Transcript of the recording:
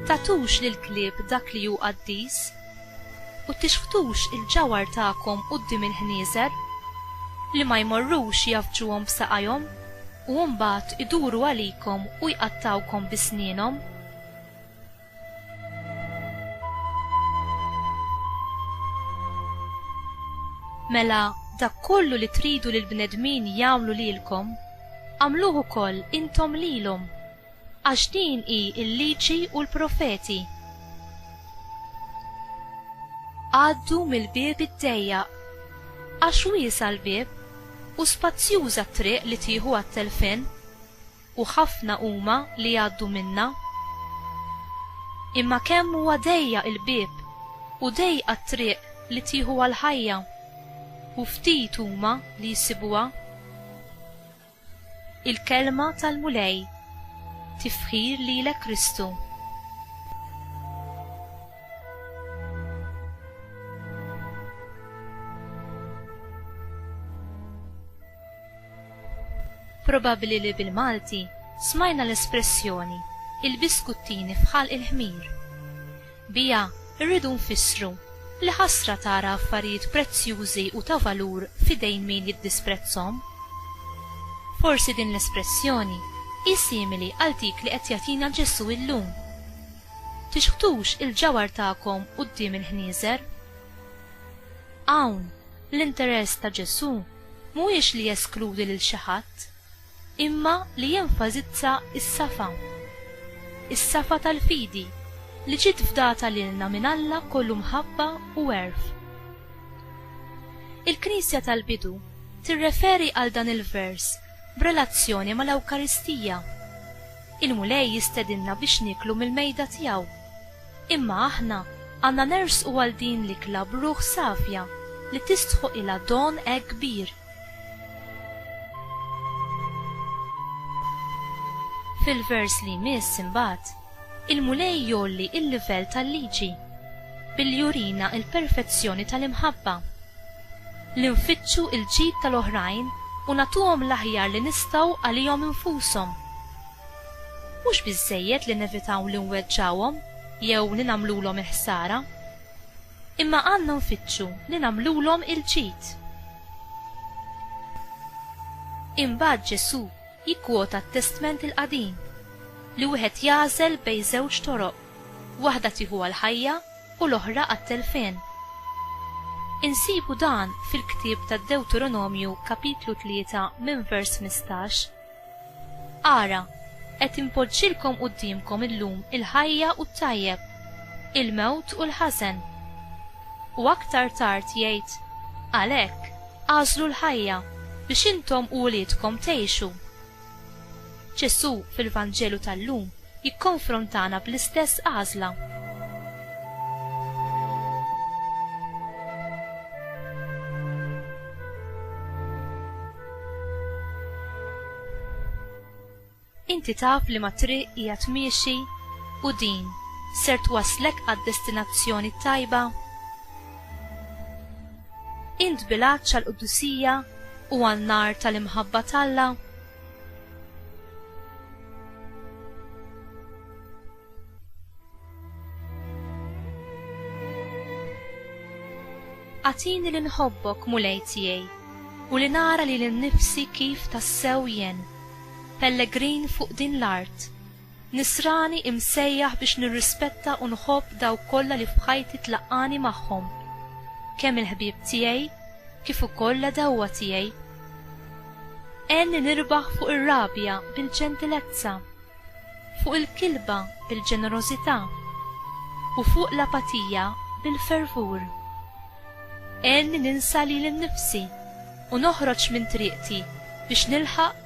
Tagħtux lill-klieb dak li hu qaddis, u tixħtux il-ġawhar tagħkom quddiem il-ħnieżer, li ma jmorrux jgħaffġuhom b'saqajhom u mbagħad iduru għalikom u jqattgħukom bi snienhom. Mela dak kollu li tridu li l-bnedmin jagħmlu lilkom, agħmluh ukoll intom lilhom, għax din hi l-Liġi u l-Profeti. Għaddu mill-bieb id-dejjaq, għax wiesgħa l-bieb u spazzjuża t-triq li tieħu għat-telfien. u ħafna huma li jgħaddu minnha. Imma kemm huwa dejjaq il-bieb u dejqa t-triq li tieħu għall-ħajja, u ftit huma li jsibuha. Il-Kelma tal-Mulej, Tifħir lilek Kristu. Probabbli li bil-Malti smajna l-espressjoni il-biskuttini f'ħalq il-ħmir. Biha rridu nfissru li ħasra tara affarijiet prezzjużi u ta' valur f'idejn min jiddisprezzhom. Forsi din l-espressjoni hi simili għal dik li qed jagħtina Ġesù illum, Tixħtux il-ġawhar tagħkom quddiem il-ħnieżer. Hawn, L-interess ta' Ġesù mhuwiex li jeskludi lil xi ħadd, imma li jenfasizza s-safa. Is-safa tal-fidi li ġiet fdata lilna minn Alla kollu mħabba u għerf. Il-Knisja tal-bidu tirreferi għal dan il-vers b'relazzjoni mal-Ewkaristija. Il-Mulej jistedinna biex nieklu mill-mejda tiegħu. Imma aħna għandna nersqu għal din l-ikla b'ruħ safja li tistħoqilha don hekk kbir. Fil-vers li jmiss imbagħad, il-Mulej jgħolli l-livell tal-liġi billi jurina l-perfezzjoni tal-imħabba, li nfittxu l-ġid tal-oħrajn u nagħtuhom l-aħjar li nistgħu għalihom infushom. Mhux biżżejjed li nevitaw li nweġġgħuhom jew li nagħmlulhom il-ħsara, imma għandna nfittxu li nagħmlulhom il-ġid. Imbagħad Ġesù jikkwota t-Testment il-Qadim li wieħed jagħżel bejn żewġ toroq, waħda tieħu għall-ħajja u l-oħra għat-telfien. Insibu dan fil-ktieb tad-Dewteronomju kapitlu tlieta minn vers ħmistax. Ara, qed inpoġġilkom quddiemkom illum il-ħajja u t-tajjeb, il-mewt u l-ħażen. U aktar tard jgħid, Għalhekk, agħżlu l-ħajja, biex intom u uliedkom tgħixu. Ġesù fil-Vanġelu tal-lum jikkonfrontana bl-istess għażla. Inti taf liema triq qiegħed miexi u din ser twasslek għad-destinazzjoni t-tajba? Int bil-għatx għall-qdusija u għan-nar tal-imħabba t'Alla? Agħtini li nħobbok Mulej tiegħi, u li nara lili nnifsi kif tassew jien, pellegrin fuq din l-art, Nisrani imsejjaħ biex nirrispetta u nħobb dawk kollha li f'ħajti tlaqqagħni magħhom, kemm il-ħbieb tiegħi kif ukoll l-għedewwa tiegħi. Għenni nirbaħ fuq ir-rabja bil-ġentilezza, fuq il-kilba bil-ġenerożità, u fuq l-apatija bil-fervur. Għenni ninsa lili nnifsi u noħroġ minn triqti biex nilħaq